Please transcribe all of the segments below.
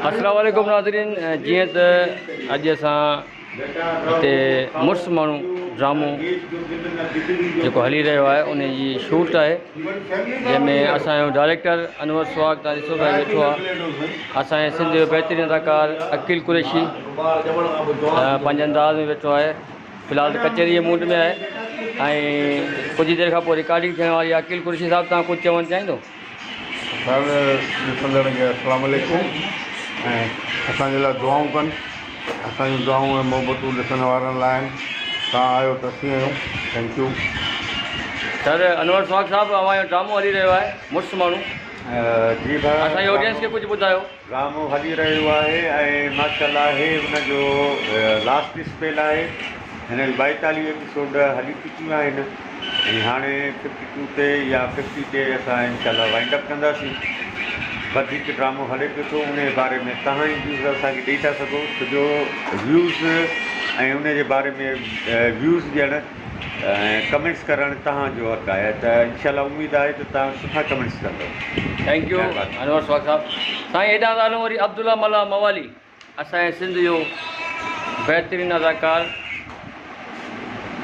السلام عليڪم ناظرين جيئن ته اڄ اسان هتي مڙس ماڻهو ڊرامو جيڪو هلي رهيو آهي ان جي شوٽ آهي جنهن ۾ اسانجو ڊائريڪٽر انور سواگ تان ڏسو ٿا ويٺو آهي اسانجي سنڌ جو بهترين اداڪار عقيل قريشي پنهنجي انداز ۾ ويٺو آهي في الحال ته ڪچهري جي موڊ ۾ آهي ۽ ڪجهه دير کان پوء رڪارڊنگ ٿيڻ واري عقيل قريشي صاحب تان ڪجهه چوڻ چاهيندو هر ڏسندڙن کي السلام عليڪم ۽ اسان جي لاء دعائون ڪن اسان جون دعائون ۽ محبتون ڏسڻ وارن لاء آهن توهان آهيو ته اسين آهيون thank you. Sir Anwar Suhag صاحب اوھان جو ڊرامو ھلي رھيو آھي مڙس ماڻھو جي ڀاء اسان جي آڊينس کي ڪجھ ٻڌايو. ڊرامو هلي رهيو آهي ۽ ماشاءالله هي ان جو لاسٽ اسپيل آهي هن جون ٻائيتاليهه ايپيسوڊ هلي چڪيون آهن ۽ هاڻي ففٽي ٽو تي يا ففٽي تي اسان انشاءالله وائنڊ اپ ڪنداسين وڌيڪ ڊرامو هلي پيو ٿو انهي باري ۾ توهان ئي ويوز اسان کي ڏئي ٿا سگهو ڇو جو ويوز ۽ انهي جي باري ۾ ويوز ڏيڻ ڪمينٽس ڪرڻ تهان جو حق آهي ته انشاء الله اميد آهي ته تهان سٺا ڪمينٽس ڪندو. ٿينڪ يو مهرباني. انور سواڳ صاحب سائين هيڏانهن ٿا هلون وري عبدالله ملاح موالي اسان جي سنڌ جو بهترين اداڪار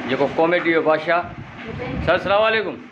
جيڪو ڪاميڊي جو بادشاهه سر سلام عليڪم.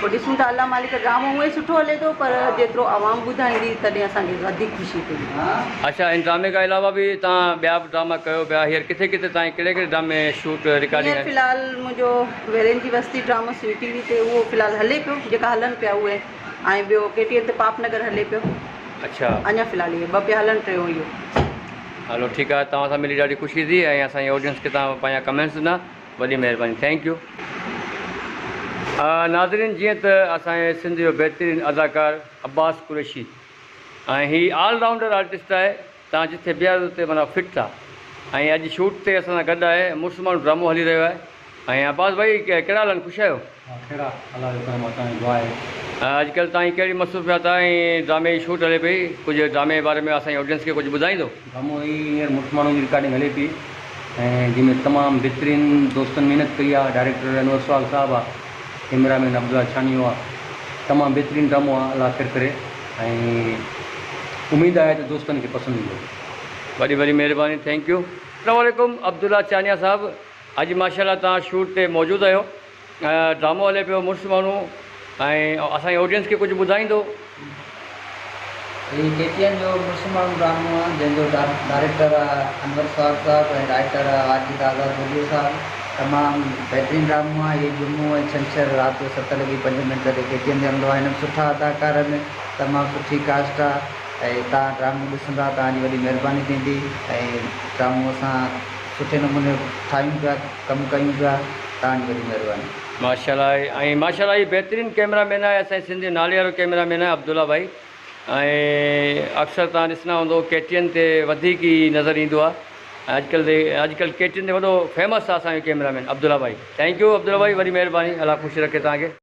پوء ڏسون ٿا الله مالڪ ڊرامو هونئن سٺو هلي ٿو پر جيترو عوام ٻڌائيندي تڏهن اسان کي وڌيڪ خوشي ٿيندي. آشا هن ڊرامي کان علاوه به توهان ٻيا به ڊراما ڪيو پيا هينئر ڪٿي ڪٿي تائين ڪهڙي ڪهڙي ڊرامي شوٽ رڪارڊنگ هينئر في الحال منهنجو ويرين جي وستي ڊرامو سنڌ ٽي وي تي اهو في الحال هلي پيو جيڪا هلن پيا اهي ۽ ٻيو ڪي ٽي ايم تي پاپ نگر هلي پيو اڇا اڃا في الحال اهي ٻه پيا هلن ٽيون اهو. هلو ٺيڪ آهي توهان سان ملي ڏاڍي خوشي ٿي ۽ اسان جي آڊينس کي توهان پنهنجا ڪمينٽس ڏنا وڏي مهرباني ٿينڪ يو. ناظرين جيئن ته اسان جي سنڌ جو بهترين اداڪار عباس قريشي ۽ هي آل رائونڊر آرٽسٽ آهي تان جٿي بيهاري اتي معنيٰ فٽ ٿا ۽ اڄ شوٽ تي اسان سان گڏ آهي مڙس ماڻهو ڊرامو هلي رهيو آهي ۽ عباس ڀائي ڪهڙا حال آهن خوش آهيو. خير آ الله جو ڪرم آ توهان جي دعا آهي. اڄ ڪلھ توهان جي ڪهڙي مصروفيات آ ۽ ڊرامي جي شوٽ هلي پئي ڪجهه ڊرامي جي باري ۾ اسان جي آڊينس کي ڪجهه ٻڌائيندو. ڊرامو هي هينئر مڙس ماڻهو جي رڪارڊنگ هلي پئي ۽ جنهن ۾ تمام بهترين دوستن محنت ڪئي آ ڊائريڪٽر انور سهاڳ صاحب آ ڪيمرا مين عبدالله ڇانيو آ تمام بهترين ڊرامو آ الله خير ڪري ۽ اميد آهي ته دوستن کي پسند ايندو. وڏي وڏي مهرباني ٿينڪ يو. اسلام عليڪم عبدالله چانيا صاحب اڄ ماشاءالله توهان شوٽ تي موجود اهيو ڊرامو هلي پيو مڙس ماڻهو ۽ اسان جي آڊينس کي ڪجهه ٻڌائيندو. هي ڪي ٽي اين جو مڙس ماڻهو ڊرامو آهي جنهن جو ڊائريڪٽر آهي انور سوات صاحب ۽ رائيٽر آهي عاجز آزاد ڀليو صاحب تمام بهترين ڊرامو آهي هي جمعو ۽ ڇنڇر رات جو ست لڳي پنج منٽ تي ڪي ٽي اين تي هلندو آهي هن ۾ سٺا اداڪار آهن تمام سٺي ڪاسٽ آهي ۽ توهان ڊرامو ڏسندا توهان جي وڏي مهرباني ٿيندي ۽ ڊرامو اسان سٺي نموني ٺاهيون پيا ڪم ڪيون پيا توهان جي وڏي مهرباني. ماشاءالله ۽ ماشاءالله هي بهترين ڪيمرا مين آهي اسان جي سنڌ جو نالي وارو ڪيمرا مين آهي عبدالله ڀائي ۽ اڪثر توهان ڏسندا هوندو ڪي ٽي اين تي وڌيڪ ئي نظر ايندو آهي ۽ اڄڪلهه تي اڄڪلهه ڪي ٽي اين تي وڏو فيمس آهي اسان جو ڪيمرا مين عبدالله ڀائي ٿينڪ يو عبدالله ڀائي وڏي مهرباني الله خوش رکي توهان کي.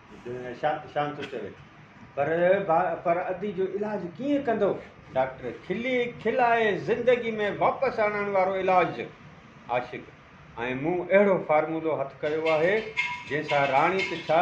شام ٿو چوي پر پر ادي جو علاج ڪيئن ڪندو ڊاڪٽر کلي کلائي زندگي ۾ واپس آڻڻ وارو علاج عاشق ۽ مون اهڙو فارمولو هٿ ڪيو آهي جنهن سان راڻي ته ڇا